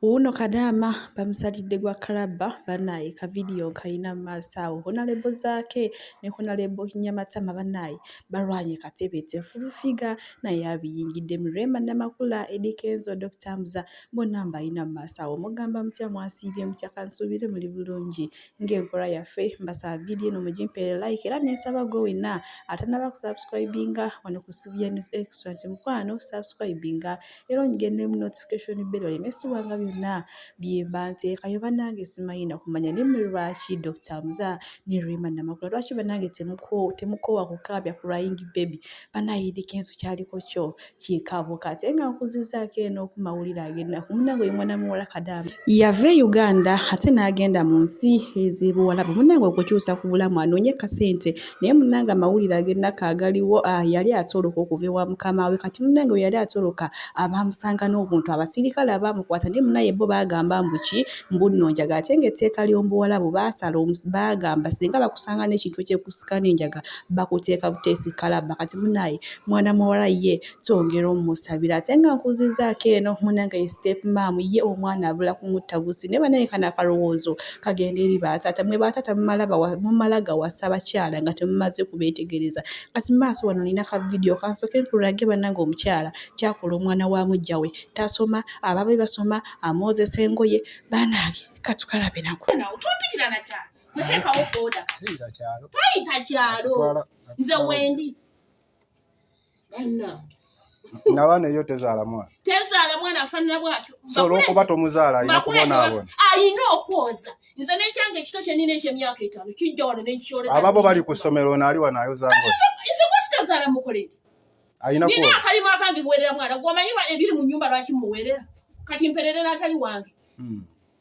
Wuuno kadaama bamusalidde gwa kalabba bannaaye kavidiyo nkayina mu maaso awo honalebo Zaake ne honalebo Nyamatama bannaaye balwanye katebeete fulufiga naye abiyingiddemu Rema Namakula, Eddy Kenzo, Dokita Hamzah bonna mbayina mu maaso awo mugamba mutya mwasiibye mutya kansuubire muli bulungi ng'enkola yaffe mbasaba vidiyo eno mugimpeere like era nensaba gwe wenna atanaba kusubscribinga wano ku Sylvia News Extra nti mukwano subscribinga era onyigende mu notification bell oleme esubwanga byonna byemba nteekayo banange simanyi nakumanya ne mwe lwaki Dr. Mza ne Rema Namakula lwaki banange temuko temukowa kukaabya crying baby banayidi kensu kyaliko kyo kikabo kati nga nkuzizaako eno ku mawulire agenda kumunange oyo mwana muwala kadaama yava e uganda ate n'agenda mu nsi ezibuwalabu munange okukyusa ku bulamu anoonye kasente naye munange amawulire agenako agaliwo ah, yali atoloka okuva ewa mukama we kati munange we yali atoloka abaamusanga n'obuntu abasirikale abaamukwata naye munaye bo baagamba mbuki mbunnonjaga ate ng'etteeka ly'omubuwalabu baasala baagamba singa bakusanga n'ekintu ekyekusika n'enjaga bakuteeka buteesi kalabba kati munaye mwana muwala ye twongera omusabira ate nga nkuzizaako eno munange ye step mam ye omwana abula kumutta busi naye banaye kano akalowoozo kagenda eri bataata mwe bataata mumala gawasa bakyala nga temumaze kubeetegereza kati maaso wano nina ka vidiyo kansoke nkulage banange omukyala kyakola omwana wa mujja we tasoma ababe basoma amwozesa engoye banange katukalabe nako muteekawo boda tayita kyalo nze wendi banna nabaana eyo tezaala mwana tezaala mwana afanana bwatyo so olwokuba tomuzaala alina kubonaabona alina okwoza nze nekyange ekito kyenina ekyemyaka etaano kijja wano nekikyoleza ababo bali ku ssomero ono ali wano ayozangoizekuzitazaala mukoledi alina nina akalimu akange kuwerera mwana gwomanyi ebiri mu nyumba lwaki muwerera kati mpererera atali wange hmm.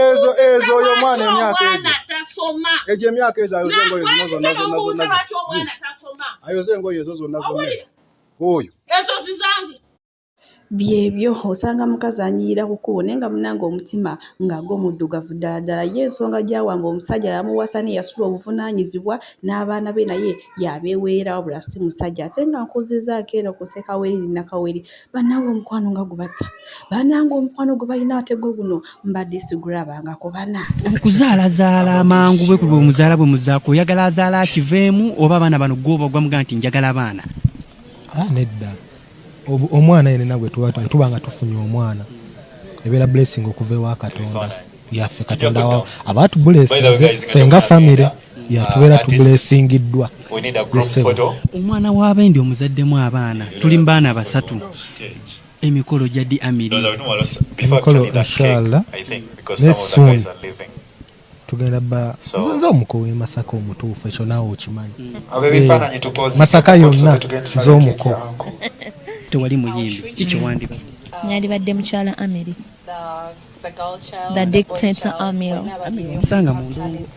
ezo ezo oyo mwana emyaka egyo egyo emyaka ezo ayoze engoye zino zonna zonna zonna ayoze engoye ezo zonna zonna oyo ezo zizange byebyo osanga mukazi anyirira ku kkubo naye nga munange omutima nga gwo muddugavu ddala ddala ye ensonga gyawamba omusajja yamuwasa ne yasula obuvunaanyizibwa n'abaana be naye yabeeweera wabula si musajja ate nga nkuzizaako eno kuseka weri nakaweri banange omukwano nga gubatta banange omukwano gwe balina ate gwe guno mbadde sigulabanga ku bana okuzaalazaala amangu bwe kulwa omuzaala bwe muzaako oyagala azaala akiveemu oba abaana bano gwoba ogwamuga nti njagala abaana ah, nedda omwana yenena gwe tuba nga tufunye omwana ebeera blessing okuva ewa katonda yaffe katonda abaatubulesinze fe nga famire yatubeera uh, tubulesingiddwa omwana w'abendi omuzaddemu abaana tuli mu baana basatu Emikolo jaddi Amiri. Emikolo inshallah very soon tugenda ba nze nze omuko we masaka omutuufu ekyo naawe okimanyi Eh, masaka yonna nze omuko Tewali muyimbi ki kye wandiko. Yandibadde mukyala Amiri. The dictator Amil. Amil omusanga mu ndongo.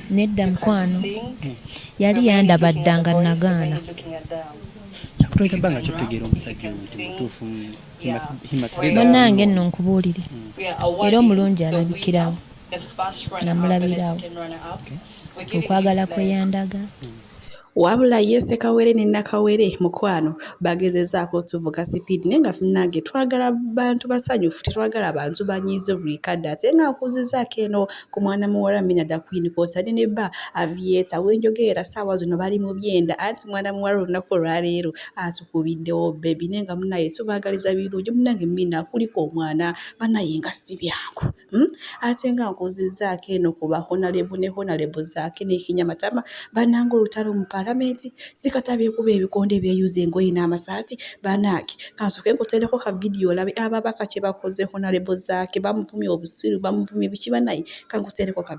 Nedda mukwano. Yali yandaba dda nga nagaana. Kyakutonda banga kyotegeera omusajja omuntu mutuufu. Munange nno nkubuulire. Hmm. Era omulungi alabikirawo. Namulabirawo. Okwagala kwe yandaga. Hmm. Wabula ye Sekawere ne Nakawere mukwano bagezezaako otuvuga sipiidi naye nga munange twagala bantu basanyufu tetwagala bantu banyiize buli kadde ate nga nkuzizaako eno ku mwana muwala Mina da Queen kw'otadde ne bba Avieta wenjogerera ssaawa zino bali mu byenda anti mwana muwala olunaku olwaleero atukubiddewo bbebi naye nga munange tubaagaliza birungi munange Mina kuliko omwana banaye nga si byangu. Ate nga nkuzizaako eno ku ba honalebo ne honalebo zaake n'ekinya matama banange olutalo mu palamenti sikata beekuba ebikonde beeyuza engoye n'amasaati banaaki kansoke nkutereko ka vidiyo olabe ababaka kye bakoze honalebo zaake bamuvumye obusiru bamuvumye biki banaye kankutereko ka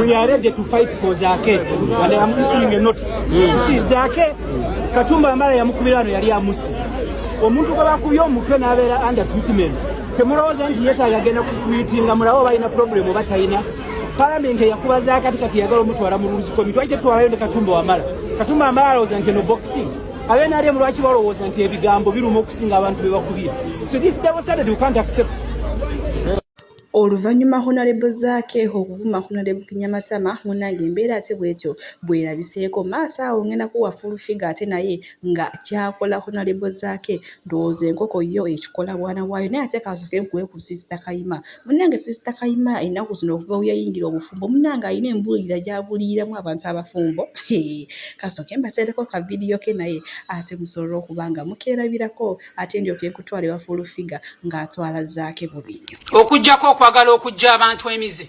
we are ready to fight for Zake and I am issuing a notice. Mm. See, Zake Katumba ambaye yamukubira ano yali amusi omuntu gwe bakubye omutwe n'abeera under treatment Temulowooza nti yetaaga agenda kukwitinga mulawo balina problemu oba talina palamenti eyakuba zakati kati yagala omutwala mu rules committee lwaki tetwalayo ne katumba wamala katumba amala alowooza nti eno boxing abe nali emu lwaki balowooza nti ebigambo biruma okusinga abantu be bakubira so this double standard we can't accept Oluvannyuma Honalebo Zaake okuvuma Honalebo Kinyamatama munnange embeera ate bwetyo bwerabiseeko maaso awo ngenda kuwa full figure ate naye nga kyakola honalebo zaake ndowooza enkoko yo ekikola bwana waayo naye ate kansoke nkuwe ku sisita kayima munange sisita kayima ennaku zino okuva weyayingira obufumbo munange alina embuulira gyabuliiramu abantu abafumbo kansoke mbateereko ka vidiyo ke naye ate musobole okuba nga mukeerabirako ate ndyoke nkutwale wa fulufiga ng'atwala zaake bubiri okujjako okwagala okujja abantu emize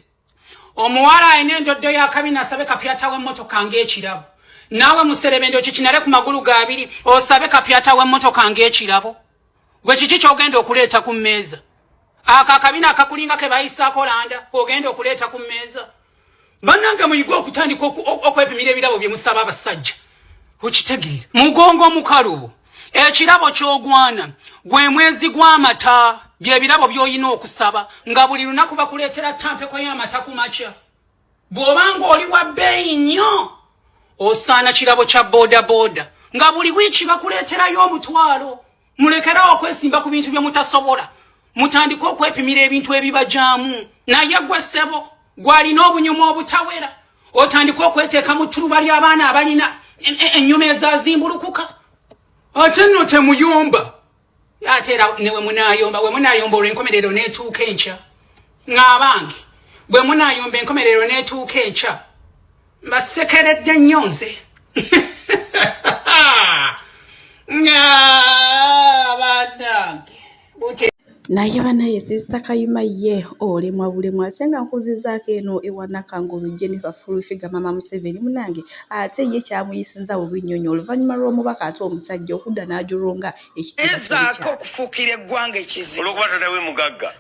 omuwala alina endoddo ya kabi nasabe kapyata w'emmotoka ng'ekirabo naawe muserebende okikinale ku magulu gaabiri osabe kapyata w'emmotoka ng'ekirabo gwe kiki ky'ogenda okuleeta ku mmeeza ako akabina akakulinga ke bayisaako landa k'ogenda okuleeta ku mmeeza bannange muyige okutandika okwepimira ebirabo bye musaba abasajja okitegeera mugongo omukalubo ekirabo ky'ogwana gwe mwezi gw'amata byebirabo by'olina okusaba nga buli lunaku bakuleetera tampeko y'amata ku makya bw'oba ng'oli wa bbeeyi nnyo osaana kirabo kya boodabooda nga buli wiiki bakuleeterayo omutwalo mulekerawo okwesimba ku bintu bye mutasobola mutandike okwepimira ebintu ebibajaamu naye gwe ssebo gwalina obunyuma obutawera otandike okweteeka mu ttuluba ly'abaana abalina ennyuma ezazimbulukuka ate nno temuyomba ate era ne wemunayomba wemunayomba olwenkomerero n'etuuka enkya ng'abange bwe munaayomba enkomerero n'etuuka enkya mbasekeredde nnyo nze naye banaye sisita kayima ye olemwa bulemwa ate nga nkuzizaako eno ewanakangulu jennifer fulfiga mama museveni munange ate ye kyamuyisinza bubi nnyo nyo oluvannyuma lw'omubaka ate omusajja okudda n'ajulunga ekitiibwa okufuukira eggwanga ekizibu olwokuba tatawe mugagga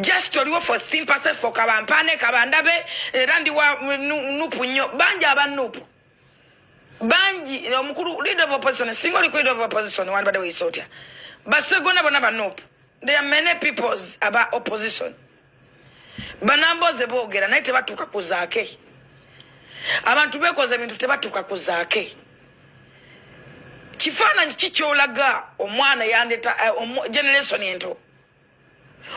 just oliwo for sympathy for kabampaane kabandabe era ndi wa nupu nnyo bangi aba nupu bangi omukulu leader of opposition singa oliko leader of opposition wandibadde weyisa otya basegona bona banupu there are many peoples aba opposition banamboze boogera naye tebatuuka ku zaake abantu bekoza ebintu tebatuuka ku zaake kifaananyi kikyolaga omwana yandeta eh, generation ento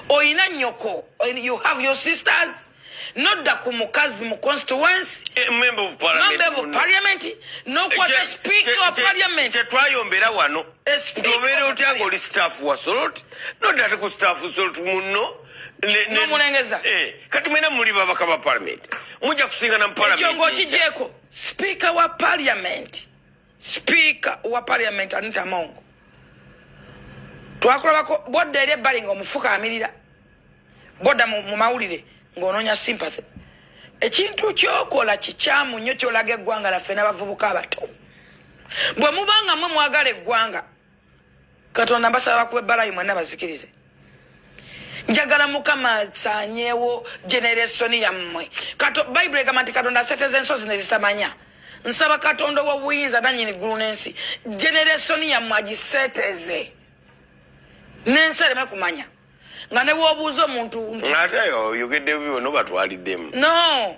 oyina nyoko you have your sisters nodda ku mukazi mu constituency eh, member of parliament nokwata eh, speaker wa parliament kyetwayombera wano obeera otya nga oli staff wa solot nodda ate ku staff solot munno nomulengeza eh, kati mwena muli babaka ba parliament mujja kusingana mu parliament ekyo ngaokijeeko speaker wa parliament sipiika wa parliament anita mongo twakulabako bodda eri ebbali nga omufuka amirira bodda mu mawulire ng'onoonya sympathy ekintu kyokola kikyamu nnyo kyolaga eggwanga laffe n'abavubuka abato bwe mubanga mwe mwagala eggwanga katonda mbasaba bakuba ebbalayi mwenna bazikirize njagala mukama asanyewo generesoni yammwe bayibuli egamba nti katonda aseteza ensozi nezitamanya nsaba katonda owobuyinza nanyini ggulu n'ensi generesoni yammwe agiseteze n'ensi ereme kumanya nga newobuuza omuntu ate oyogedde bibyo nobatwaliddemu no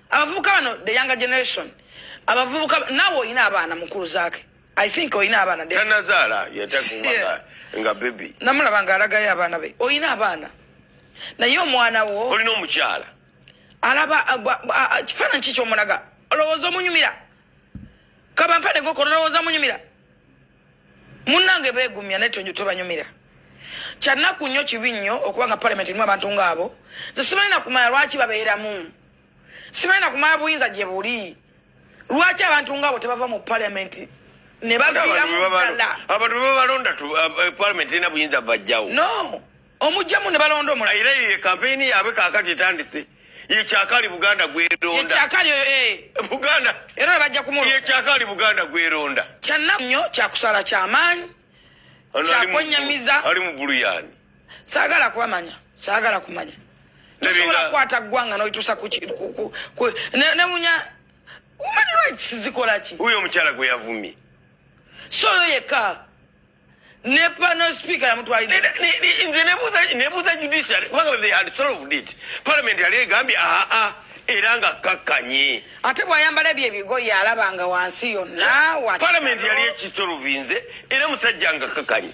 abavubuka bano the younger generation abavubuka naawe olina abaana mukulu zaake i think olina abaana tanazaala yatakuaa nga bebi namulaba nga alagayo abaana be olina abaana naye omwana wo olina omukyala alaba kifaananyi ki kyomulaga olowooza omunyumira kabampane gokona olowooza munyumira munange begumya naye tonjo tobanyumira kyanaku nnyo kibi nnyo okuba nga palamenti erimu abantu ngaabo nze simanyi nakumala lwaki babeeramu simanyi nakumala buyinza gye buli lwaki abantu ngaabo tebava mu palamenti nebaviiramu ddala abantu bebalonda palamenti erina buyinza bajjawo no omujjamu ne balonda omulala era ye kampeyini yaabwe kaakati etandise ye kyakaali buganda gweronda kyakaali oyo eh. buganda era bajja kumu ye kyakaali buganda gweronda kyannaku nnyo kyakusala kyamaanyi kyakwenyamiza ali mu bulu yaani saagala kubamanya saagala kumanya tosobola kukwata ggwanga nolituusa newunya human rights zikolaki huyo omukyala gwe yavumye si oyo yekka ne panel speaker yamutwalidde nze nebuuza judiciary kubanga they had solved it parliament yali egambye aa ah, ah, era nga kakkanye ate bwayambala ebyo ebigoye alabanga wansi yonna parliament yali ekitolovinze era musajja nga kakkanye